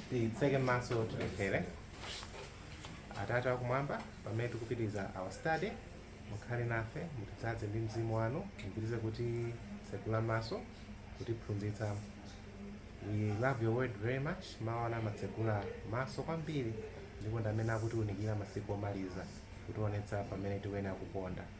titseke maso tipemphere atate akumwamba pamene tikupitiriza our study mukhale nafe mutidzaze ndi mzimu wanu mupitirize kutitsegula maso kutiphunzitsa we love your word very much mawu anu amatsegula maso kwambiri ndipo ndi amene akutiunikira masiku omaliza kutionetsa pamene tikuyenera kuponda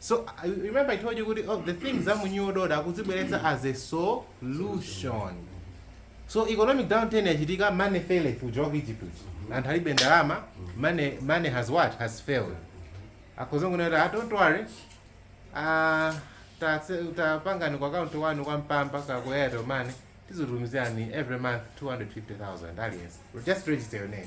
So you remember I told you kuti oh, the things za mu new world order akuzibweretsa as a solution. So economic downturn yachitika money faileth kuchokera ku Egypt. Anthu alibe ndalama, money money has what? Has failed. Akuzangonena kuti ah, don't worry. Ah tatse- tapangani ku account wanu kwa mpamba kaya ku Airtel money tizikutumizirani every month 250,000 aliyense. Just register your name.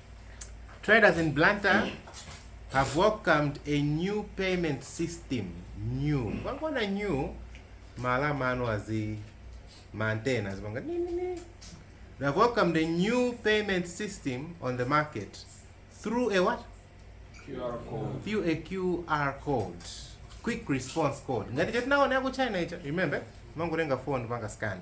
Traders in Blantyre have welcomed a new payment system. New. Wangona new malama anu azi mantenas banga ni ni ni. They have welcomed a new payment system on the market through a what? QR code. Through a QR code. Quick response code. Ngati chatinaona yaku China icho. Remember? Mangolenga phone panga scan.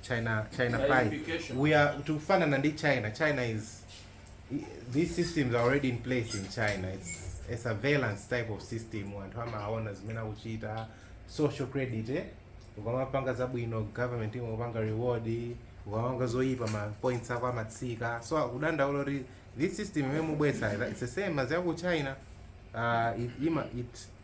China Chinafy. Chinification. Ati tikufanana ndi China. China is these systems are already in place in China. It's a surveillance type of system. Anthu amaona zimene akuchita social credit eh? ukamapanga zabwino government imakupanga reward ukamapanga zoyipa ma points ako amatsika so akudandaula kuti this system imene mukubweretsa it's the same as yaku China uh, it, ima, it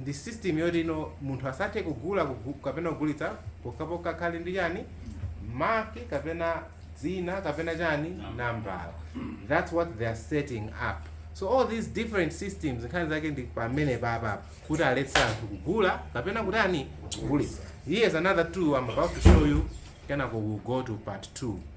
ndi system yoti no munthu asathe kugula kugu, kapena kugulitsa pokhapokha akhale ndi chani mark kapena dzina kapena chani nambala that's what they are setting up so all these different systems nkhani zake ndi pamenepapa kuti aletse anthu kugula kapena kutani kugulitsa here's another two i'm about to show you kenako we'll go to part two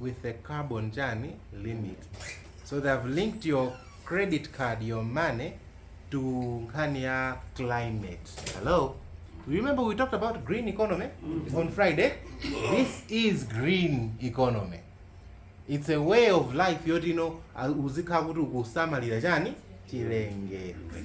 with a carbon chani limit so they have linked your credit card your money to nkhani ya climate hello you remember we talked about green economy on friday this is green economy it's a way of life yoti ino uzikhala kuti ukusamalira chani chilengedwe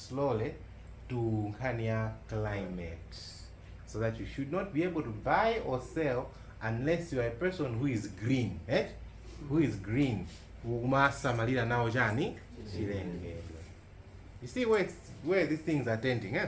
slowly to nkhani ya climate so that you should not be able to buy or sell unless you are a person who is green eh? who is green ukumasamalira nawo chani chilengedwe you see where, it's- where these things are tending eh?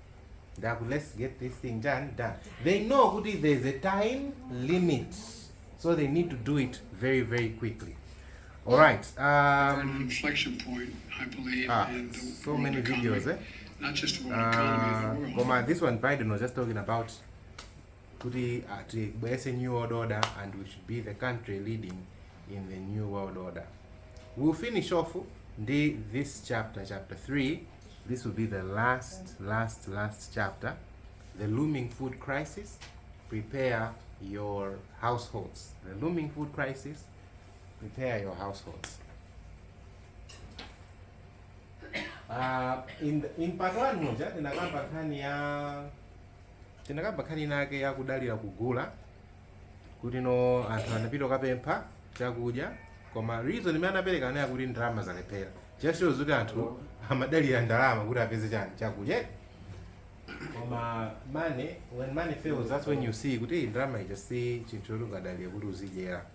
ndaku let's get this thing done done they know kuti there is a time limit so they need to do it very very quickly all right um, We're at an inflection point i believe ah, in the so world many economy. videos eh? not just world economy the Uh, world koma this one biden was just talking about kuti uh, tibwerese new world order and we should be the country leading in the new world order we'll finish off ndi this chapter chapter 3 this will be the last last last chapter the looming food crisis prepare your households the looming food crisis prepare your households uh, in, the, in part 1 muja tinakamba nkhani ya tinakamba nkhani inake ya kudalira kugula kuti no anthu anapita kukapempha chakudya koma reason imene anapereka inali yakuti ndalama zalephera just shows kuti anthu amadalira ndalama kuti apeze chani chakudya eti? koma money when money fails that's when you see kuti ndalama ija si chinthu choti ungadalire kuti uzidyera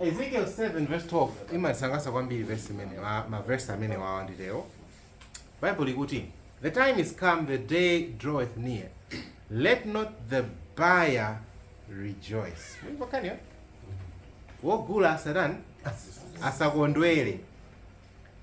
ezekiel 7 verse 12 imandisangalatsa kwambiri verse imene ma- mavesi amene wawa nditewo Bible likuti the time is come the day draweth near let not the buyer rejoice Mwaimva nkhaniyo? wogula asatani asakondwere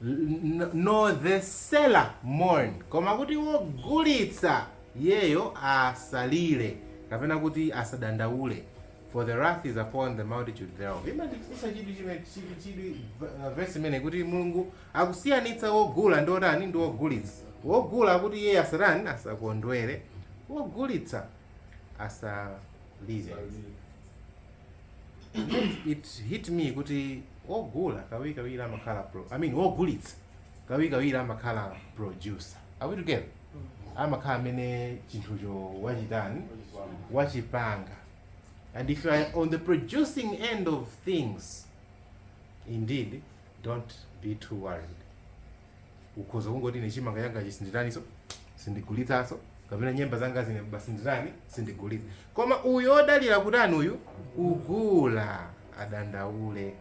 N- nor the seller mourn koma kuti wogulitsa iyeyo asalire kapena kuti asadandaule for the wrath is upon the multitude thereof imachitisa chidwi chime- chidwi- chidwi uh, verse imeneyi kuti mulungu Akusiyanitsa wogula ndi wotani? Ndi wogulitsa. Wogula kuti iye asatani? Asakondwere. Wogulitsa asalire. Yet it hit me kuti wogula kawirikawiri amakhala pro, I mean wogulitsa kawirikawiri amakhala producer. Are we together? Amakhala amene chinthucho wachitani? Wachipanga. And if you are on the producing end of things indeed, don't be too worried ukhoza kungoti ine chimanga changa chisinditaniso sindigulitsaso kapena nyemba zanga zine basi nditani sindigulitsa koma uyo odalira kutani uyu kugula adandaule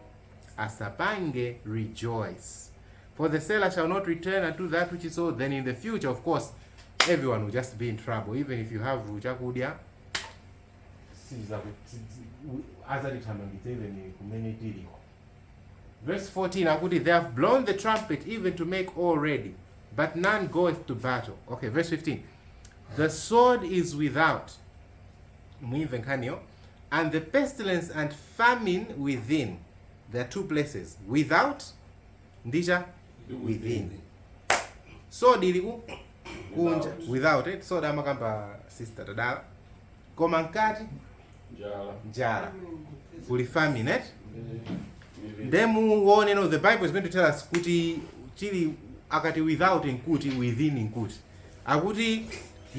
asapange rejoice for the seller shall not return unto that which is sold then in the future of course everyone will just be in trouble even if you have chakudya sizaku- si- si- u- adzatithamangitse even kumene tiliko Verse 14 akuti they have blown the trumpet even to make all ready but none goeth to battle okay verse 15 the sword is without muimve nkhaniyo and the pestilence and famine within there are two places without ndicha within sword ili ku kunja without it sword amakamba sister tadala koma mkati Njala. njala kuli famine eh? nde muone no the bible is going to tell us kuti chili akati without nkuti within nkuti akuti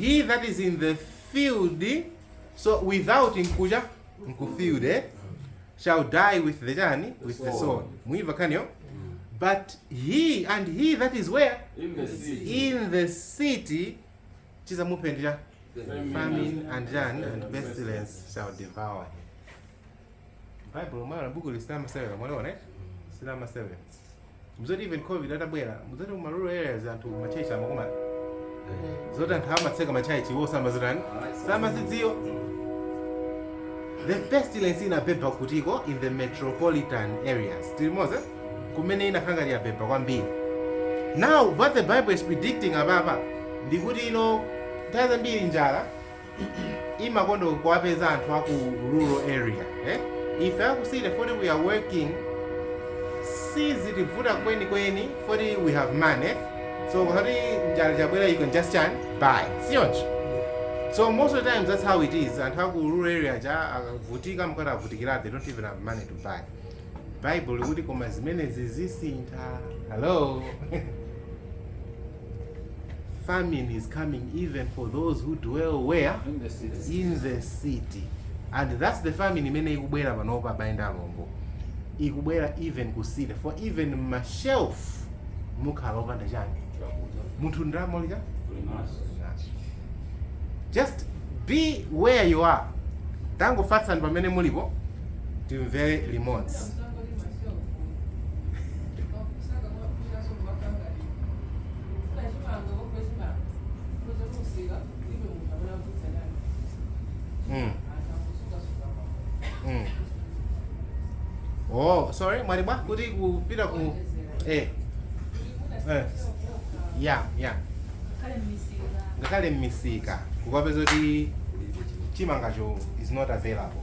he that is in the field so without nkucha nkufield eh? shall die with the chani with the soul muimva kaniyo but he and he that is where In the sea. in the city chizamupendera famine and pestilence shall devour him bible mwaona buku mwaliona eh? silama 7 mzoti even covid itabwera mzoti kuma rural areas anthu ma church amakumana zoti anthu amatseka ma church iwo samazitani samazidziwa the pestilence inabeba kutiko in the metropolitan areas tili limodzi kumene inakhala ngati yabeba kwambiri now what the bible is predicting apapa ndikuti ino nthawi zambiri njala imakonda kuwapeza anthu aku rural area eh? ife aku city foti we are working sizitivuta kwenikweni foti we have money so kuti njala chabwera you can just chani buy si choncho so most of the times that's how it is anthu aku rural area ja akavutika nkuti avutikira they don't even have money to buy Baibulo likuti koma zimenezi zisintha. Hello. Famine is coming even for those who dwell where? In the city. In the city. And that's the famine imene ikubwera panopa abale ndi alongo. Ikubwera even ku city for even ma shelf mukhala opanda chani. Munthu ndalama uli nayo? Just be where you are. Tangofatsani pamene mulipo. timvere limodzi Mm. Mm. oh sorry mwati bwa kuti kupita ku eh eh ya ya ngakhale mmisika kukapeza kuti chimangacho is not available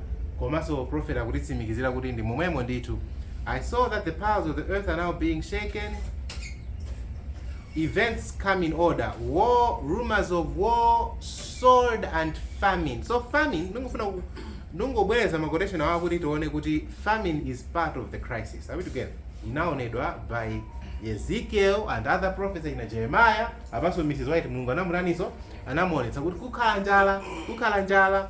Komanso prophet akutitsimikizira kuti ndi momwemo ndithu I saw that the powers of the earth are now being shaken events come in order war rumors of war sword and famine so famine ndingofuna ku- ndingobwereza ma quotation awa kuti tione kuti famine is part of the crisis are we together inaonedwa by ezekiel and other prophets ina jeremiah apanso mrs white mulungu anamutaniso anamuonetsa kuti kukhala njala kukhala njala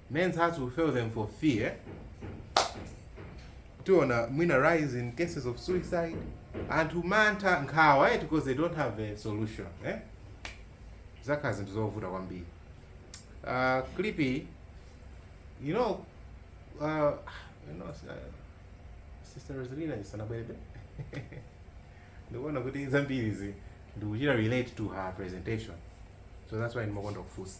Men's hearts will fail them for fear. Tiona mwina rise in cases of suicide. Anthu mantha nkhawa eti because they don't have a solution. Eh? Zakhala zinthu zovuta kwambiri. Uh, Clippy, you know, uh, you know, uh, Sister Rosalina ndisanabwere ndikuona kuti zambiri izi ndikuchita relate to her presentation so that's why ndimakonda kufunsa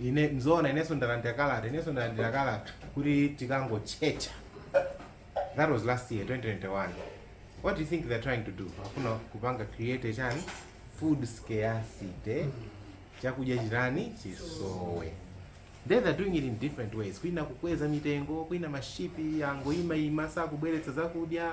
Ine nzoona inenso ndalandira kalata inenso ndalandira kalata kuti tikangotchetcha that was last year 2021 what do you think they're trying to do afuna kupanga create chani food scarcity chakudya chitani chisowe then they're doing it in different ways kwina kukweza mitengo kwina mashipi angoima ima sakubweretsa zakudya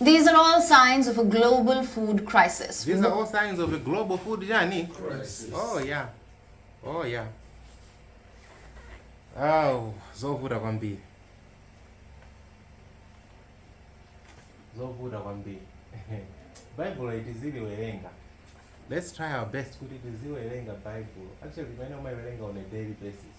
These are all signs of a global food crisis. These are all signs of a global food chani? Crisis. Oh yeah. Oh yeah. Awu, zovuta kwambiri. Zovuta kwambiri. Bible tiziliwerenga. Let's try our best kuti tiziiwerenga Bible. Actually, pamene umaiwerenga on a daily basis.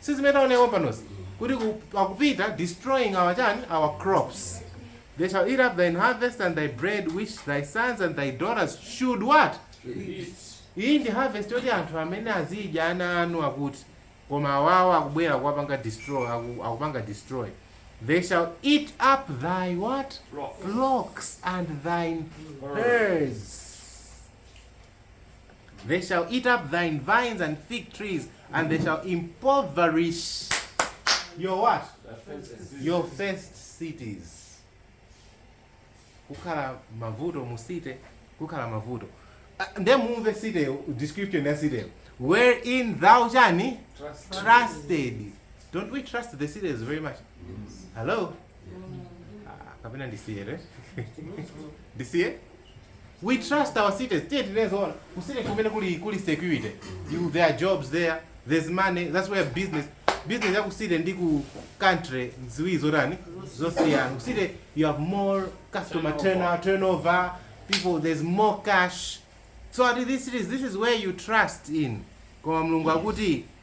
Si zimene taonera pompanozi kuti ku- akupita destroying our chani our crops they shall eat up thine harvest and thy bread which thy sons and thy daughters should what iyi ndi harvest yoti anthu amene azidya ana anu akuti koma awawa akubwera kuwapanga destroy aku- akupanga destroy they shall eat up thy what flocks and thine herds They shall eat up thine vines and fig trees, and they shall impoverish your what? Your first cities. Kukhala mavuto musite, kukhala mavuto. Ah, Nde mumve site description ya site. Wherein thou chani? Trusted. Don't we trust the cities very much? Hello? Ah, Kapena ndisiye, right? Ndisiye? We trust our cities. Tiyeni tinene zoona. Ku city kumene kuli kuli security. You there are jobs there. There's money. That's where business business ya ku city ndi ku country ziwiri zotani zosiyana. Ku city you have more customer turnover, turnover people there's more cash. So at these cities this is where you trust in. Koma Mulungu akuti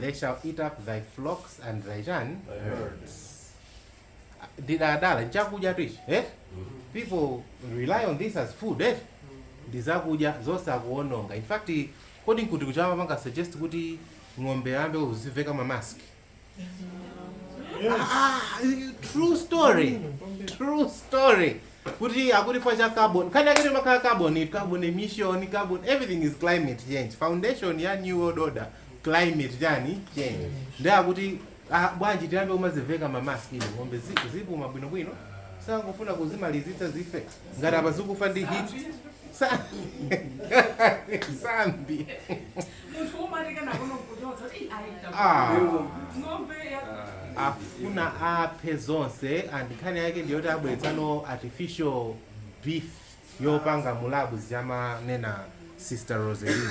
They shall eat up thy flocks and thy chani ndidadala nchakudya tu ichi eh? people rely on this as food eh? ndizakudya zosakuononga in fact Kodi nkuti kuja amapanga suggest kuti ng'ombe ayambe kuziveka ma mask? Yes. Ah, true story. True story. Kuti akuti chifukwa cha carbon. Kani akati amakhala carbon, it carbon emission, carbon everything is climate change. Foundation ya new world order climate yani change. Ndiye akuti A bwanji tiyambe kumaziveka ma mask inu ng'ombezi, zizipuma bwino bwino akungofuna kuzimalizitsa zife ngati apa zikufa ndi heat sa sambi munthu umati kana kuno kuchotsa kuti "Ih, ayi, tabu." ah ng'ombe ya afuna aphe zonse and nkhani yake ndiyoti abweretsano artificial beef yopanga mu labu ziyamanena sister roselin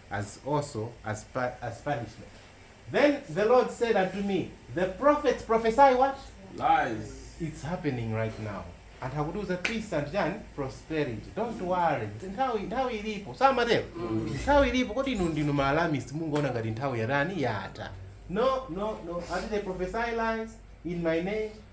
as also as, as punishment. Then the Lord said unto me, The prophets prophesy what? Lies. It's happening right now. And how do the peace and then prosperity? Don't worry. Nthawi nthawi ilipo. Sama leo. Nthawi ilipo kodi inu ndinu ma alarmist mungoona ngati nthawi ya ndani yata. No, no, no. Ati they prophesy lies in my name.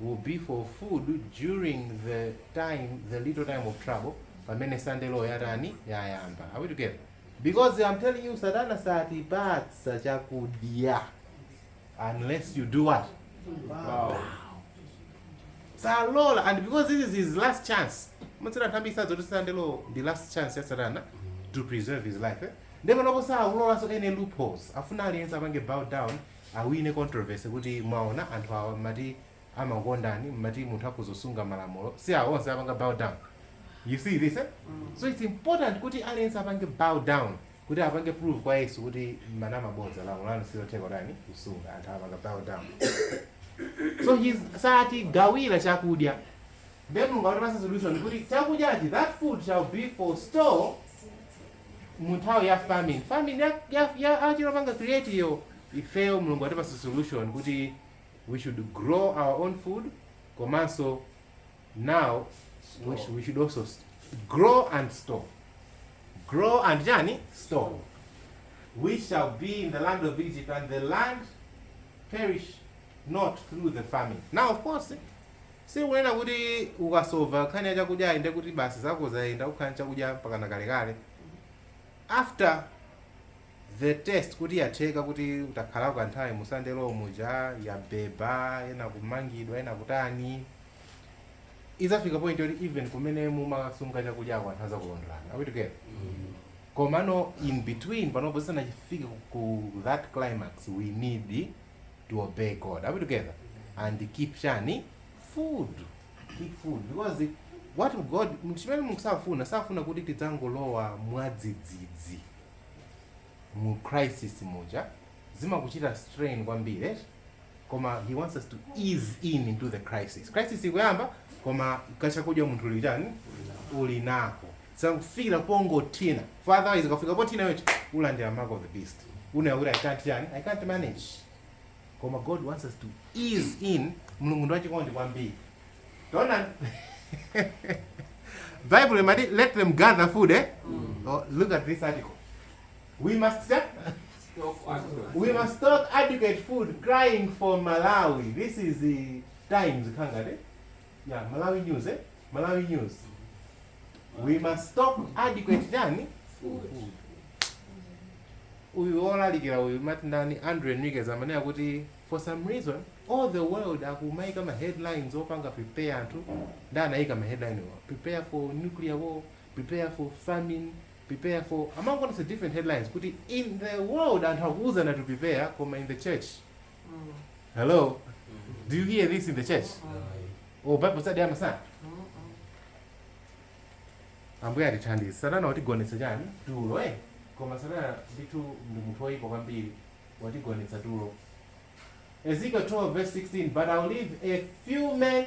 will be for food during the time the little time of trouble pamene sunday law yatani yayamba are we together because i'm telling you satana satipatsa chakudya unless you do what wow. salola and because this is his last chance m'mitsiza anthu ambiri sadziwa zoti sunday law ndi last chance ya satana to preserve his life eh? ndipo n'kuona saulolanso any loopholes afuna aliyense apange bow down awine controversy kuti mwaona anthu awa mumati amakukondani mumati munthu akhoza kusunga malamulo si awa onse apanga bow down you see this eh? so it's important kuti aliyense apange bow down kuti apange prove kwa yesu kuti mumanama bodza lamulo lanu silotheka kutani kusunga anthu apanga bow down so he's satigawira chakudya then mulungu akutipatsa solution kuti chakudyachi that food shall be for store mu nthawi ya famine famine ya, ya, ya achira panga create yo ifeyo mulungu atipasa solution kuti we should grow our own food komanso now we should, we should also s- grow and store grow and chani store we shall be in the land of egypt and the land perish not through the famine now of course Sikunena kuti ukasova nkhani ya chakudyayi ndiye kuti basi zako zayenda ukhala ndi chakudya mpakana kalekale. After the test kuti yatheka kuti utakhalako kanthawi mu Sunday Law muja yabeba, ena kumangidwa, ena kutani, idzafika point yoti even kumene mumasunga chakudyako anthu adzakulondolani. Are we together? Komano in between panopo zisanatifike ku that climax we need to obey God. Are we together? And keep chani food. Keep food because what God chimene Mulungu safuna safuna kuti tidzangolowa mwadzidzidzi mu crisis muja zimakuchita strain kwambiri eh? koma he wants us to ease in into the crisis crisis ikuyamba koma kachakudya munthu uli tani uli nako usangofikira pongothina for otherwise ukafika pothina iwo ulandira mark of the beast kunena kuti i can't tani i can't manage koma god wants us to ease in mulungu ndi wachikondi kwambiri taona bible imati let them gather food eh? oh, look at this article we must eh? we must stock adequate food crying for malawi this is the times khangati ya malawi news eh? malawi news we must stock adequate chani uyu wolalikira uyu amati ndani andre enriquez amene akuti for some reason all the world akumaika ma headlines opanga prepare anthu ndiye anaika ma headline a prepare for nuclear war prepare for famine prepare for amangoonetsa different headlines kuti in the world anthu akuuzana to prepare koma in the church Hello? Do you hear this in the church? Oh, Bible study yamasana? Ambuye atithandize. Satana watigonetsa chani? Tulo, eh? Koma Satana ndi munthu woyipa kwambiri. Watigonetsa tulo. Ezekiel 12 verse 16, but I'll leave a few men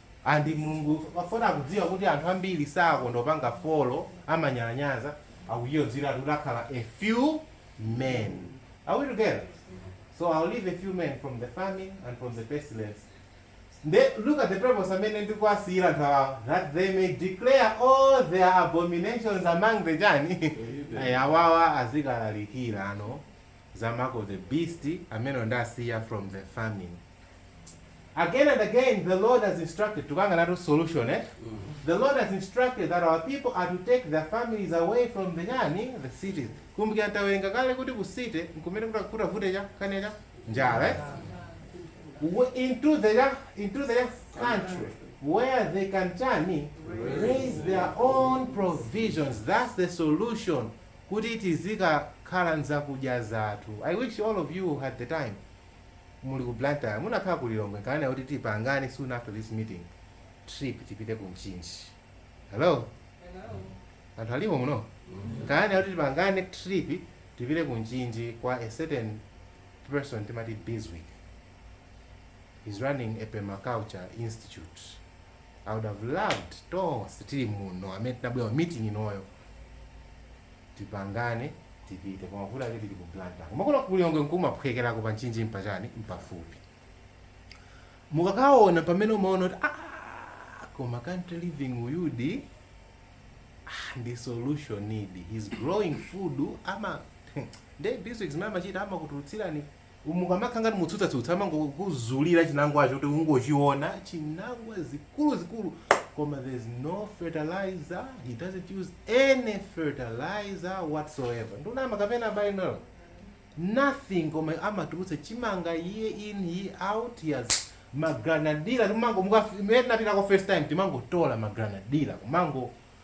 And Mulungu poti akudziwa kuti anthu ambiri sakonda kupanga follow amanyalanyaza akuchiyodzeratu kuti akhala a few men. Are we together? So I'll leave a few men from the famine and from the pestilence. They, look at the purpose amene ndikuwasiyira anthu awa that they may declare all their abominations among the chani Ayi, awawa azikalalikira ano zamako the beast amene ndisiya from the famine again and again the lord has instructed tukukambanatu solution eh? the lord has instructed that our people are to take their families away from the chani the cities kumbukira tawerenga kale kuti ku city nkumene kuta- kutavute cha kane cha njala eh? W- into the ya- into the ya country where they can chani raise their own provisions that's the solution kuti tizikakhala nzakudya zathu i wish all of you had the time muli ku Blantyre mukanakhala ku Lilongwe nkananena kuti tipangane soon after this meeting trip tipite ku Mchinji hello anthu alimo muno nkananena kuti tipangane trip tipite ku Mchinji kwa a certain person timati Biswick is running a permaculture institute I would have loved tonse tili muno amene tinabwera meeting inoyo tipangane tipite koma vuto lake tili ku blantyre koma kuno ku lilongwe nkumaphwekerako pa nchinji mpachani mpafupi mukakaona pamene umaona kuti "Ah, koma country living uyudi ah, ndi solution idi he's growing food ama ndi zimene amachita amakutulutsira mukamakhala ngati mukutsutsatsutsa amangokuzulira chinangwacho kuti ungochiona chinangwa zikuluzikulu koma there's no fertilizer he doesn't use any fertilizer whatsoever ndunama kapena bainal nothing koma amatulutsa chimanga iye in he out he has magranadila timango muka- imene tinapitako first time timangotola magranadila kumango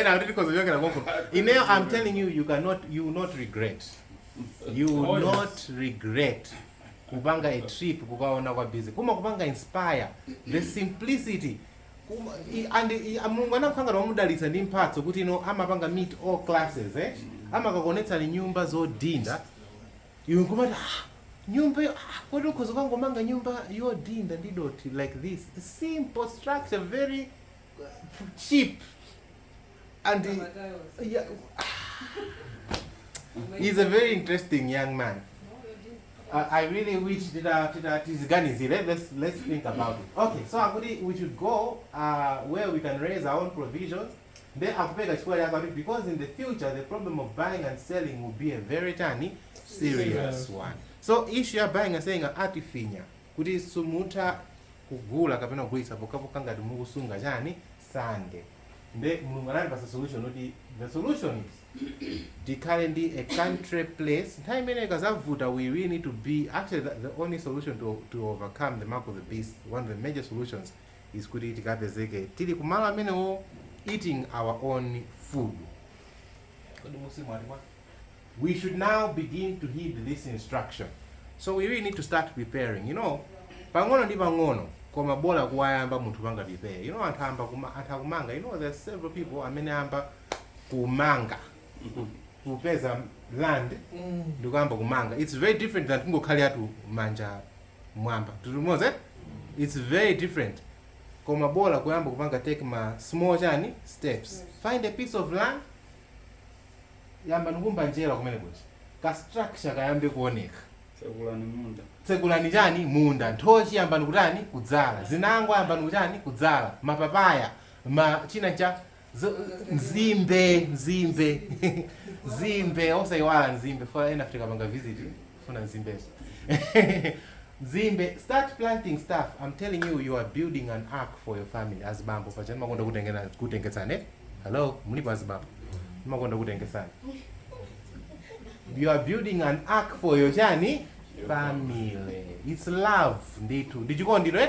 ena kuti tikhoza kuchokera konko ineyo i'm telling you you cannot you will not regret you will Oh, yes. not regret kupanga a trip kukaona kwa busy kumakupanga inspire the simplicity Kuma- i- and i- a- mulungu anakhangowamudalitsa ndi mphatso kuti iye amapanga meet all classes eh? amakakuonetsani nyumba zodinda Iwe nkumati aah nyumba iyo aah kodi ukhoza kukangomanga nyumba yodhinda ndi dothi like this simple structure very cheap and Kama tiles. yeah, he's a very interesting young man I, I really wish tita tita tiziganizire let's let's think about it okay so akuti we should go uh, where we can raise our own provisions Nde akupeka chifukwa chake akuti because in the future the problem of buying and selling will be a very chani serious one. So issue ya buying and selling a- atifinya kuti sumutha kugula kapena kugulitsa pokhapokha ngati mukusunga chani sande. Nde mulungu anatipasa solution kuti the solution is tikhale ndi a country place nthawi imene kukazavuta we really need to be actually the, the only solution to, to overcome the mark of the beast one of the major solutions is kuti tikapezeke tili kumalo amenewo eating our own food Kodi tili limodzi? we should now begin to heed this instruction so we really need to start preparing you know pang'ono ndi pang'ono koma bola kuyamba munthu kupanga prepare you know anthu ayamba kuma, anthu akumanga you know there are several people amene ayamba kumanga kupeza land ndikuyamba kumanga it's very different than kungokhala chabe manja mmwamba tili limodzi eh? its very different koma bola kuyamba kupanga take ma small chani steps find a piece of land yambani kuumba njerwa kumene kuti ka structure kayambe kuoneka Tsekulani munda. tsekulani chani munda nthochi yambani kutani kudzala zinangwa yambani kutani kudzala mapapaya ma china cha Zo- nzimbe nzimbe nzimbe osayiwala nzimbe ndifuna ena Africa panga visit ndifuna nzimbezo nzimbe start planting stuff i'm telling you you are building an ark for your family azibambo pajatu mumakonda kutengena- kutengetsane hello mulipo azibambo mumakonda kutengetsane you are building an ark for your chani family it's love ndithu ndichikondiro eh?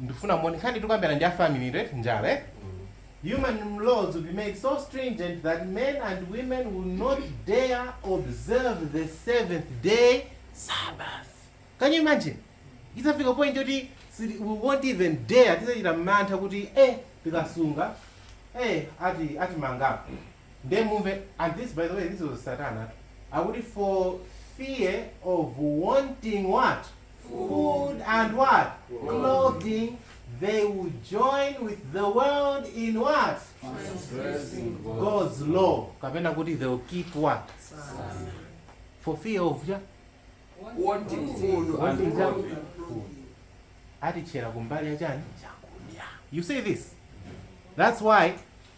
ndifuna muone nkhani tikukambiranayi ndi ya family yathu eti njala eti human laws will be made so stringent that men and women will not dare observe the seventh day sabbath can you imagine idzafika point yoti sili- we won't even dare tidzachita mantha kuti eh tikasunga eh ati atimangapo nde mumve and this by the way this was satana tu akuti for fear of wanting what food and what clothing they will join with the world in what god's law kapena kuti they will keep what for fear of ja Wanting food and Wanting ja- clothing. atitchera kumbali ya chani chakudya you see this that's why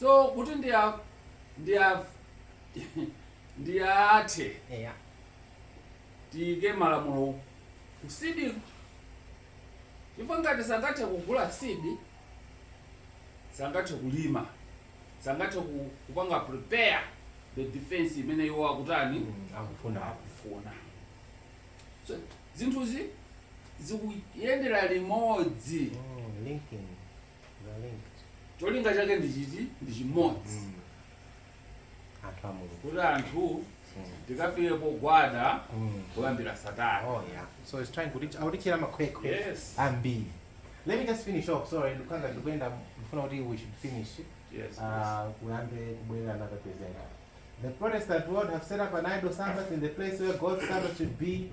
so kuti ndi a- ndi a- ndi athe eya tiyike malamulo ku sidi chifukwa ngati sangathe kugula sidi sangathe kulima sangathe ku- kupanga prepare the defense imene iwo akutani Mm, akufuna akufuna so zinthuzi zikuyendera limodzi Mm, linking They're linked. cholinga chake ndi chiti ndi chimodzi Mm. Anthu a Mulungu. kuti anthu Mm. tikafike pogwada Mm. kulambira satana Oh yeah. So it's trying to kutitchera makhwekhwe Yes. ambiri. Let me just finish off. Sorry, nthawi ikuyenda ndifuna kuti we should finish. Yes, Uh, kuyambe kubwera another presenter. The Protestant world have set up an idol Sabbath in the place where God's Sabbath should be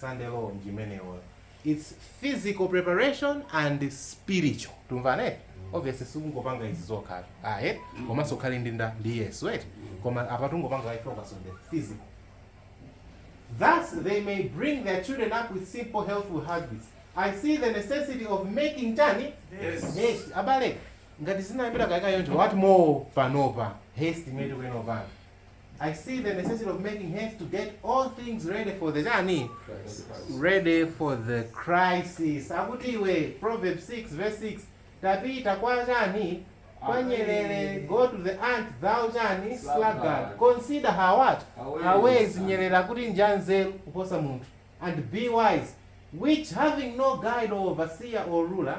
Sunday law ndi imeneyo its physical preparation and spiritual timvane obviously sikungopanga izi zokha ayi komanso ukhale ndi nda ndi yesu right koma apa tungopanga i focus on the physical Thus, they may bring their children up with simple, healthful habits. I see the necessity of making tani Yes. haste. Abale, ngati zinayambira kale kale yonje, what more panopa haste imene tikuyenera kupanga. I see the necessity of making haste to get all things ready for the chani ready for the crisis akuti iwe proverb 6 verse 6 tapita kwa chani kwa nyerere go to the ant thou chani sluggard consider her what her ways nyerere akuti njanzeru kuposa munthu and be wise which having no guide or overseer or ruler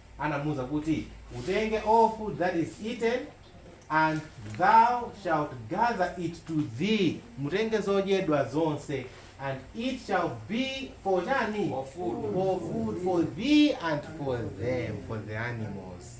anamuuza kuti, Utenge all food that is eaten, and thou shalt gather it to thee. Mutenge zodyedwa zonse. And it shall be for chani? For food. For food for thee and for them, for the animals.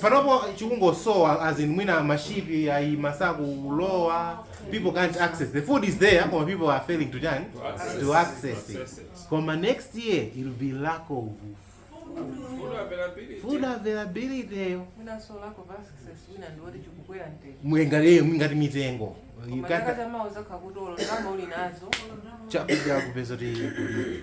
panopa chikungosowa as in mwina mashipi ayi sakulowa people can't access the food is there koma people are failing to tani to access it koma next year it will be lack of food availability mwengaleyo mwingati mitengo You can't- chakudya kupeza kuti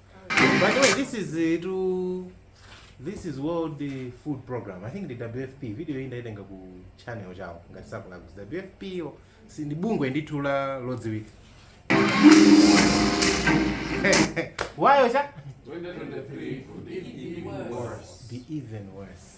By the way, this is uh, to this is World uh, Food Program. I think the WFP video iyi ndaitenga ku channel chawo ngati sindikulakwa WFP yo si ndi bungwe ndithu la lodziwika wayo cha 2023 could even be worse. be even worse.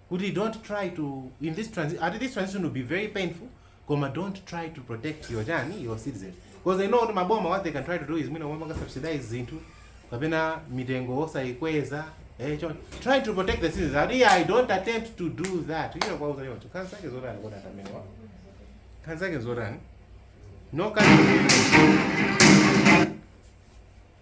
kuti don't try to in this transition ati this transition will be very painful koma don't try to protect your chiyani your citizen because they know kuti maboma what they can try to do is mwina kumapanga subsidize zinthu kapena mitengo osayikweza eh trying to protect the citizens ati i don't attempt to do that you know kwa uzalima tu kansa ke zotani kwa ndamene wa kansa ke zotani no country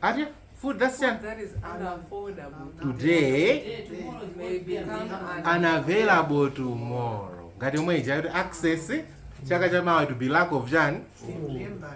ati food that's Food chani that is unaffordable. today Today, tomorrow it may be become an unavailable tomorrow ngati yomwe ija kuti access chaka cha mawa to be lack of chani Remember.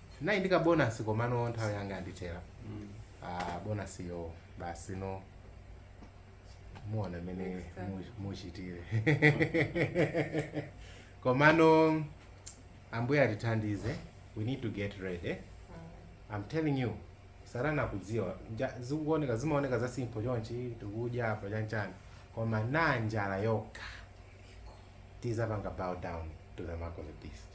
naye ndi kabonasi komano nthawi yanga yandithera ah, bonasi yo basi ndiye muona mene Next time. mu- muchitire komano ambuye atithandize we need to get ready i'm telling you satana akudziwa Nja- zikuoneka zimaoneka za simple chonchi tikudya apa chanchani koma na njala yokha tidzapanga bow down to the mark of the beast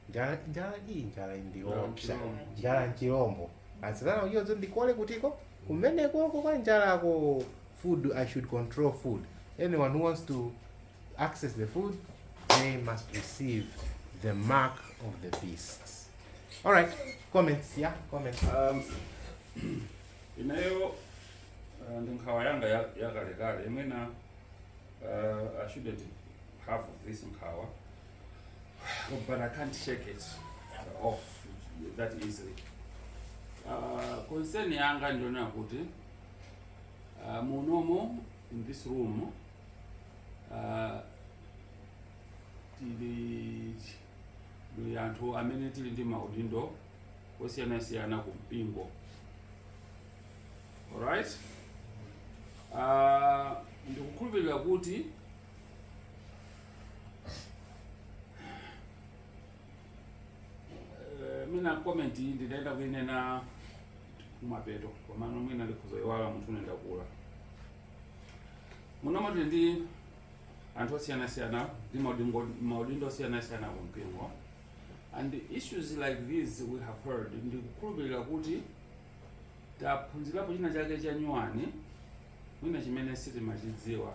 njala njala iyi njala iyi ndiyoopsa njala nchilombo satana akudziwa ndikole kuti kumenekoko kwa njalako food i should control food anyone who wants to access the food they must receive the mark of the beasts all right comments yeah comments Um, ineyo uh, ndi nkhawa yanga ya- yakalekale imene uh, i shouldn't have this nkhawa Oh, but I can't shake it off that easily. Uh, concern yanga ndi yonena kuti uh, munomo in this room uh, tili ndi anthu amene tili ndi maudindo osiyanasiyana ku mpingo alright uh, ndikukhulupirira kuti Eh, mwina comment iyi ndinayenera kuinena kumapeto komano mwina ndikhoza kuiwala munthu une ndakula munomo tili ndi anthu osiyanasiyana ndi maudingo- maudindo osiyanasiyana ku mpingo and issues like these we have heard ndikukhulupirira kuti taphunzirapo china chake chanyuwani mwina chimene sitimachidziwa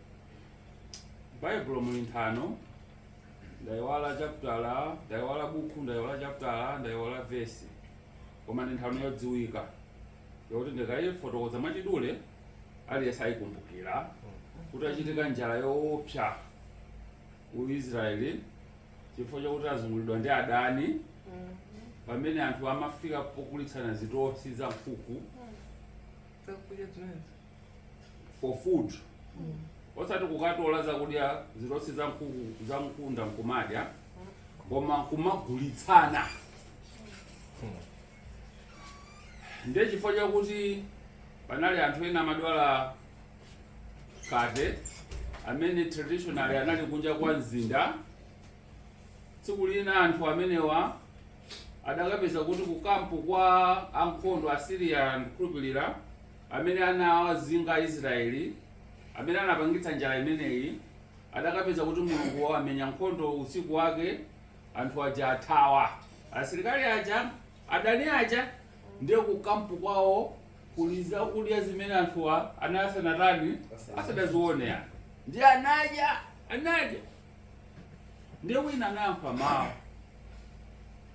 M'Baibulo muli nthano, ndaiwala chaputala, ndaiwala buku, ndaiwala chaputala, ndaiwala vesi, koma ndi nthano yodziwika yokuti ndikaifotokoza mwachidule aliyense ayikumbukira kuti inachitika njala yoopsa ku Israeli chifukwa chakuti azunguliridwa ndi adani pamene anthu amafika pogulitsana zitosi za nkhunda. for food osati kukatola zakudya zitosi za nkhunda nkumadya koma kumagulitsana ndiye chifukwa chakuti panali anthu ena amadwala khate amene traditionally anali kunja kwa mzinda tsiku lina anthu amenewa adakapeza kuti kukampu kwa ankhondo a Siriya ndikukhulupirira Amene anawazinga Aisraeli, amene anapangitsa njala imeneyi, adakapeza kuti Mulungu wawamenyera nkhondo usiku wake, anthu aja athawa. Asilikali aja, adani aja, ndiye ku camp kwawo kuli zakudya zimene anthuwa anali asanatani, asadazione yani, ndiye anadya, anadya, ndiye wina anayankhula mawu.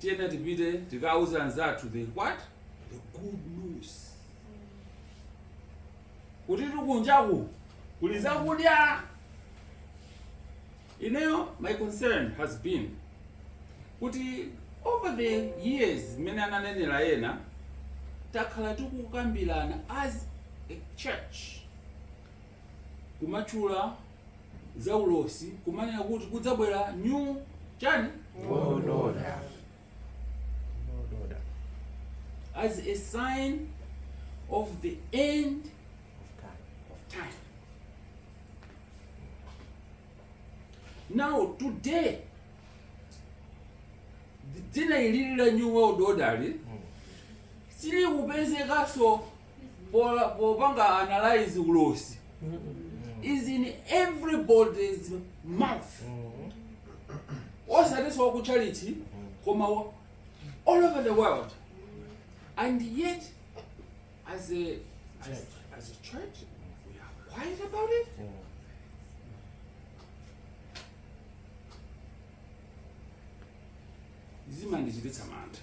tiyenera tipite tikauze anzathu the what the good news kuti kunjaku kuli zakudya ineyo my concern has been kuti over the years mmene ananenera ena takhala tikukambirana as a church kumatchula zaulosi kumanena kuti kudzabwera new chani order. Order. as a sign of the end of time. Now today dzina ili la new world order silikupezekanso popanga analyze ulosi is in everybody's mouth osatinso wakutchalichi koma wa- all over the world and yet as a, as, as a church we are quiet about it zimandichititsa mantha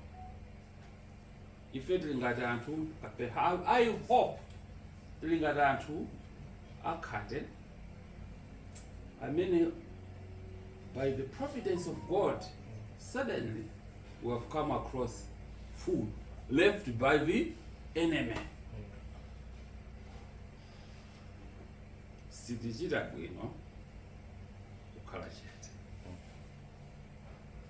ife tili ngati anthu ape- I- i hope tili ngati anthu akhate amene by the providence of god suddenly we have come across food left by the enemy sitichita bwino kukhala chete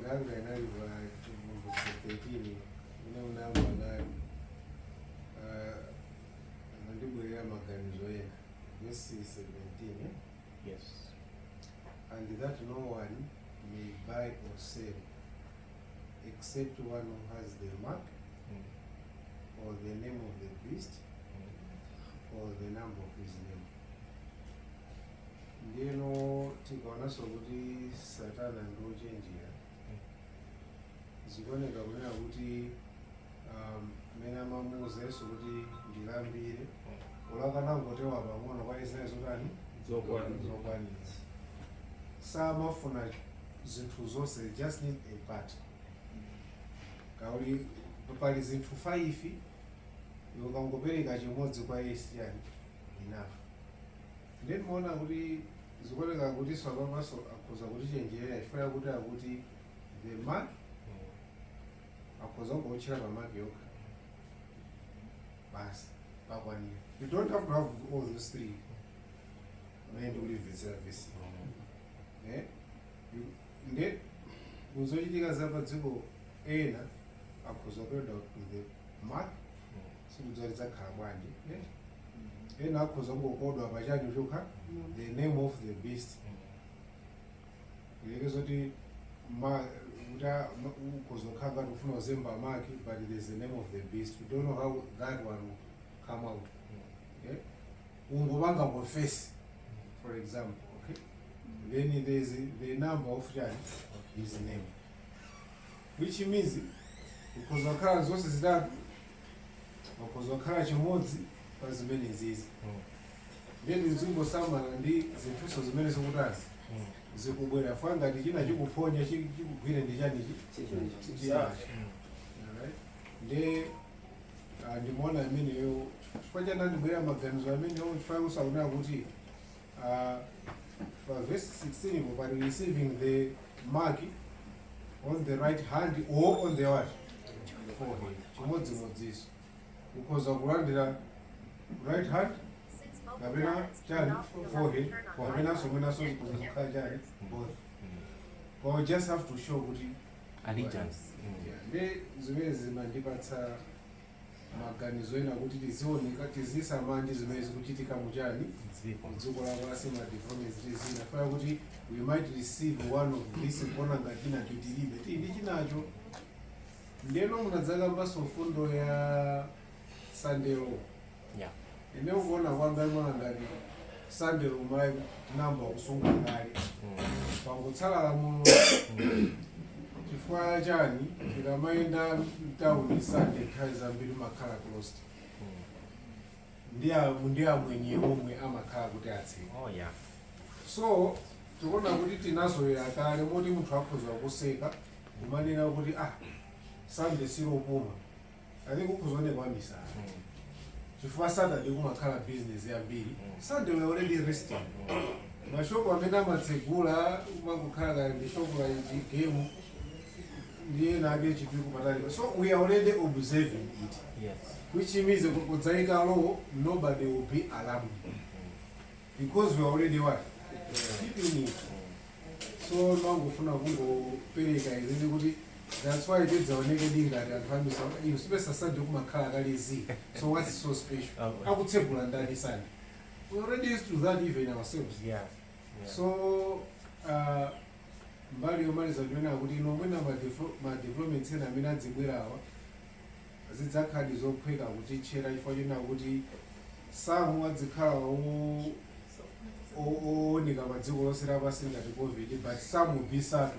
Nganga inali wa Chivumbutso 13 ine unango nayo ah, anandibwerera maganizo ena verse 17 eh? Yes. and that no one may buy or sell except one who has the mark Mm. or the name of the beast Mm. or the number of his name Ndiyeno tikaonanso kuti Satana ndi wochenjera, zikuoneka kunena kuti um, mmene amamuuza Yesu kuti ndilambire anakangotero pang'ono kwa Israeli zotani Zokwanira. zokwanira samafuna zinthu zonse just need a part kaya pali zinthu 5 ukangopereka chimodzi kwa Yesu yani enough ndiye timaona kuti zikuoneka kuti apapanso akhoza kutichenjerera chifukwa chakuti akuti the mark akhoza kungoutchera pa mark yokha basi pakwanira you don't have to have all those three mmene ndikulimvetsera vesi Eh? You- nde muzochitika za padziko ena akhoza kuenda to the mark sindidziwa lidzakhala bwanji eh? ena akhoza kungokodwa pachani chokha the name of the beast ndiye kuti ma- kuti a- ma- ukhoza kukhala ngati ufuna kuzemba mark but there's the name of the beast we don't know how that one will come out okay? ungopanga confess for example okay? then there is the number of chani his name which means ukhoza kukhala zonse zitatu pakhoza kukhala chimodzi pa zimenezizi ndiye tizingosamala ndi zinthuso zimene zikutazi zikubwera fwa ngati china chikuphonya chi- chikugwire ndi chanichi chinachi Alright? ndiye ah, ndimaona ameneyo chifukwa chanandibwera maganizo amenewo chifukwa usaona kuti uh, pa verse 16 ipo pali receiving the mark on the right hand or on the what forehead chimodzimodziso ukhoza kulandira right hand kapena chani forehead kapenanso mwinanso kuzikhala chani both or just have to show kuti Allegiance. Yeah, ndi zimene zimandipatsa maganizo ena kuti tizioneka tizisamala ndi zimene zikuchitika mu chani mu dziko lapansi ma developments ndi zina feya kuti we might receive one of this kuona ngati chinacho tilibe tili ndi chinacho ndeno munadzakambanso mfundo ya Sunday law Ine kuona kwanga ndimaona ngati Sunday law tinayamba kusunga kale pangotsala lamulo chifukwa chani tikamayenda mtawuni Sunday nthawi zambiri kumakhala closed ndi a- ndi amwenye omwe amakhala kuti atseka Oh yeah. so tikuona kuti tinazolowera kale moti munthu akhoza kuseka kumanena kuti ah Sunday silopuma I think ukhoza kuoneka wamisala chifukwa Saturday kumakhala business yambiri. Sunday we are already resting. Ma shop amene amatsegula kumangokhala kaya ndi shop la chani Game ndi ena ake Chipiku patali. So we are already observing it. Yes. Which means ku- kudzaika law nobody will be alarmed because we are already what keeping it. So ndimangofuna kungopereka izizi kuti That's why tidzaonekedi ngati anthu amisala inu sipeza Sunday kumakhala kale zii so what's so special akutsegula ndani Sunday we already used to that even ourselves Yeah. Yeah. so uh, mbali yomaliza ndiyonena kuti ine mwina madivelo- ma developments ena amene adzibwerawa zidzakhaladi zophweka kutitchera chifukwa chonena kuti some adzikhala o- o- ooneka pa dziko lonse lapansi ngati covid but some bisatu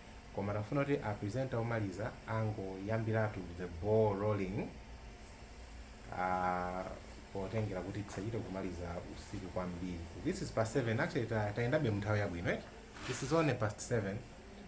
Koma timafuna kuti a presenter omaliza angoyambiratu the ball rolling uh, potengera kuti tisachite kumaliza usiku kwambiri. This is past 7 actually ta- tayendabe mnthawi yabwino eh? This is only past 7